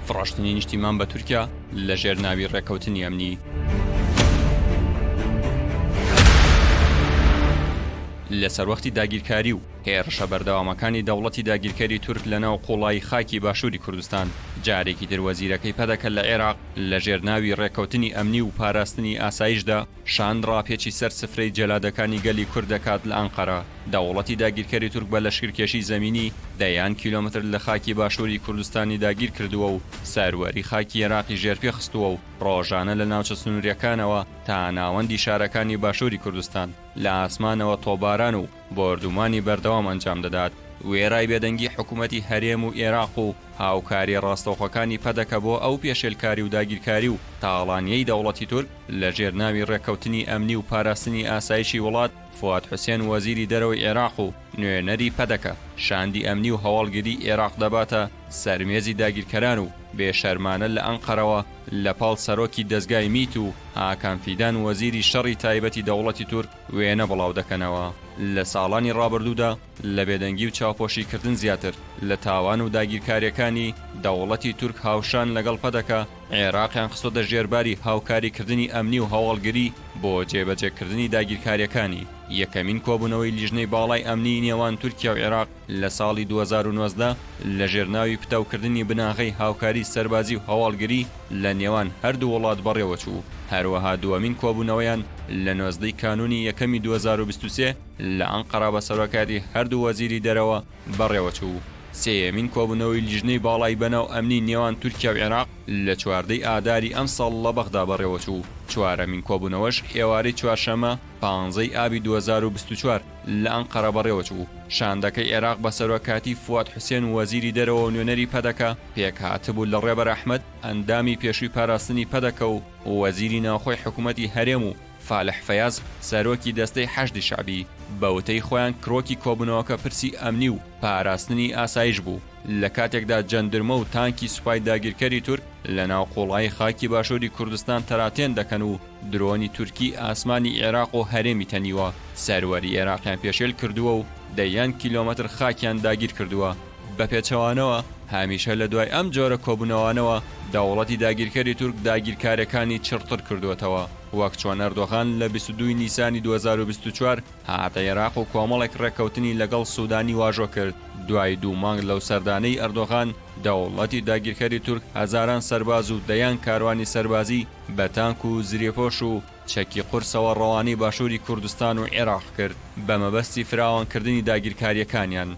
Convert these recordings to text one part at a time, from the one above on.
فڕۆشتنی نیشتیمان بە تورکیا لە ژێر ناوی ڕێکەوتنی ئەمنی لە سەروەختی داگیرکاری و هێرشە بەردەوامەکانی دەوڵەتی داگیرکەری تورک لە ناو قوڵایی خاکی باشووری کوردستان جارێکی تر وەزیرەکەی پەدەکە لە عێراق لە ژێر ناوی ڕێکەوتنی ئەمنی و پاراستنی ئاسایشدا شاند ڕاپێچی سەر سفرەی جەلادەکانی گەلی کورد دەکات لە ئەنقەرە، دەوڵەتی داگیرکەری تورک بە لەشکرکێشی زەمینی دەیان کیلۆمەتر لە خاکی باشووری کوردستانی داگیر کردووە و سەروەری خاکی ئێراقی ژێرپێ خستووە و ڕۆژانە لە ناوچە سنوورییەکانەوە تا ناوەندی شارەکانی باشووری کوردستان لە ئاسمانەوە تۆپباران و بۆردومانی بەردەوام ئەنجام دەدات. وێڕای بێدەنگی حکومەتی هەرێم و ئێراق و هاوکارییە ڕاستەوخۆکانی پەدەکە بۆ ئەو پێشێلکاری و داگیرکاری و تاڵانییەی دەوڵەتی تورک، لە ژێر ناوی ڕێککەوتنی ئەمنی و پاراستنی ئاسایشی وڵات، فواد حوسێن وەزیری دەرەوەی عێراق و نوێنەری پەدەکە، شاندی ئەمنی و هەواڵگریی عێراق دەباتە سەر مێزی داگیرکەران و بێ شەرمانە لە ئەنقەرەوە لە پاڵ سەرۆکی دەزگای میت و هاکان فیدان وەزیری شەڕی تایبەتی دەوڵەتی تورک وێنە بڵاو دەکەنەوە لە ساڵانی ڕابردوودا لە بێدەنگی و چاوپۆشی کردن زیاتر لە تاوان و داگیرکاریەکانی، دەوڵەتی تورک هاوشان لەگەڵ پەدەکە، عێراقیان خستۆتە ژێر باری هاوکاری کردنی ئەمنی و هەواڵگری بۆ جێبەجێ کردنی داگیرکاریەکانی. یەکەمین کۆبونەوەی لیژنەی باڵای ئەمنی نێوان تورکیا و عێراق لە ساڵی دوو هەزار و نۆزدە لە ژێر ناوی پتەو کردنی بناغەی هاوکاری سەربازی و هەواڵگری لە نێوان هەردوو وڵات بەڕێوەچوو. هەروەها دوەمین کۆبونەوەیان لە نۆزدە ی کانونی یەکەمی دوو هەزار و بیست و سێ، لە ئەنقەرە بە سەرۆکایەتی هەردوو وەزیری دەرەوە بەڕێوەچوو و سێیەمین کۆبوونەوەی لیژنەی باڵای بەناو ئەمنی نێوان تورکیا و عێراق لە چواردە ی ئاداری ئەمساڵ لە بەغدا بەڕێوەچوو و چوارەمین کۆبوونەوەش ئێوارەی چوارشەممە پانزە ی ئابی دوو هەزار و بیست و چوار لە ئەنقەرە بەڕێوەچوو. شاندەکەی عێراق بە سەرۆکاتی فواد حوسێن وەزیری دەرەوە و نوێنەری پەدەکە پێکهاتبوو لە ڕێبەر ئەحمەد ئەندامی پێشووی پاراستنی پەدەکە و وەزیری ناوخۆی حکوومەتی هەرێم و فالح فەیاز سەرۆکی دەستەی حەشدی شەعبی، بە وتەی خۆیان کرۆکی کۆبوونەوەکە پرسی ئەمنی و پاراستنی ئاسایش بوو، لە کاتێکدا جەندرمە و تانکی سوپای داگیرکەری تورک لە ناو قوڵایی خاکی باشووری کوردستان تەراتێن دەکەن و درۆنی تورکی ئاسمانی عێراق و هەرێمی تەنیوە سەروەری عێراقیان پێشێل کردووە و دەیان کیلۆمەتر خاکیان داگیر کردووە. بە پێچەوانەوە هەمیشە لە دوای ئەم جۆرە کۆبوونەوانەوە دەوڵەتی داگیرکەری تورک داگیرکاریەکانی چڕتر کردووەتەوە وەک چۆن ئەردۆغان لە بیست و دوو ی نیسانی دوو هەزار و بیست و چوار هاتە ئێراق و کۆمەڵێک ڕێککەوتنی لەگەڵ سودانی واژۆ کرد دوای دوو مانگ لەو سەردانەی ئەردۆغان دەوڵەتی داگیرکەری تورک هەزاران سەرباز و دەیان کاروانی سەربازی بە تانک و زرێپۆش و چەکی قورسەوە ڕەوانەی باشووری کوردستان و ئێراق کرد بە مەبەستی فراوانکردنی داگیرکاریەکانیان.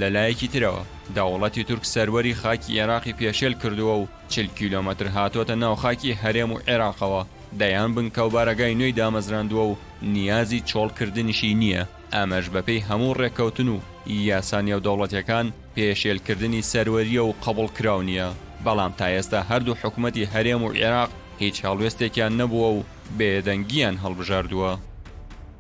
لەلایەکی ترەوە دەوڵەتی تورک سەروەری خاکی ئێراقی پێشێل کردووە و چل کیلۆمەتر هاتۆتە ناو خاکی هەرێم و عێراقەوە، دەیان بنکە و بارەگای نوێی دامەزراندووە و نیازی چۆڵکردنیشی نییە، ئەمەش بەپێی هەموو ڕێککەوتن و یاسا نێودەوڵەتیەکان پێشێلکردنی سەروەرییە و قبوڵکراو نییە، بەڵام تا ئێستا هەردوو حکومەتی هەرێم و عێراق هیچ هەڵوێستێکیان نەبووە و بێدەنگییان هەڵبژاردووە.